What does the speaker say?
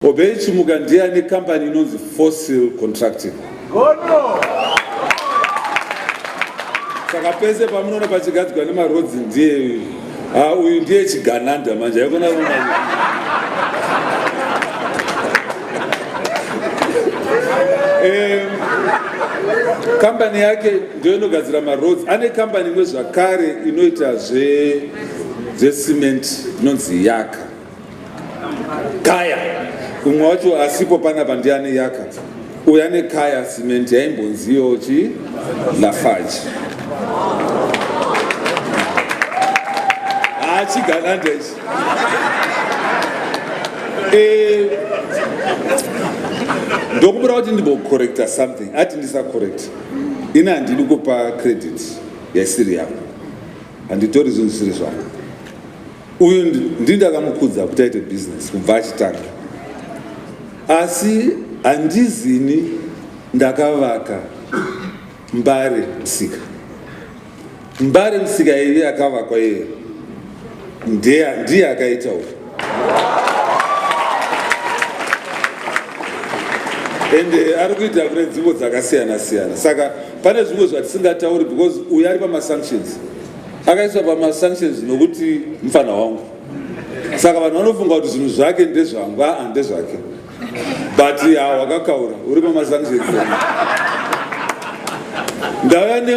Obey Chimuka ndiye ane kambani inonzi Fossil Contracting. Gono! Saka pese pamunoona pachigadzigwa nemarodzi ndiye uyu. Ah, uyu ndiye chigananda manje. Haikona kuona. Eh, kambani yake ndiyo inogadzira maroads. Ane kambani imwe zvakare inoita zve zvesimenti inonzi Yaka. kaya umwe wacho asipo pana pandiane yaka uya nekaya simenti yaimbonziyo chi lafaji hachigalanda ichi eh, ndokumbira kuti ndimbocorrecta something ati ndisacorrect ini handidi kupa credit yaisiri yangu handitori zvinhu zvisiri zvangu uyu ndini ndakamukudza kuti aite business kubva achitanga asi handizini ndakavaka mbare musika mbare musika yaive yakavakwa iye ndiye akaita uku and eh, ari kuita kune nzvimbo dzakasiyana siyana saka pane zvimwe zvatisingatauri because uyu ari pamasanctions akaiswa pamasanctions nokuti mfana wangu saka vanhu vanofunga kuti zvinhu zvake ndezvangu aa ndezvake but hawakakaura uri pamasanctions ndauya ne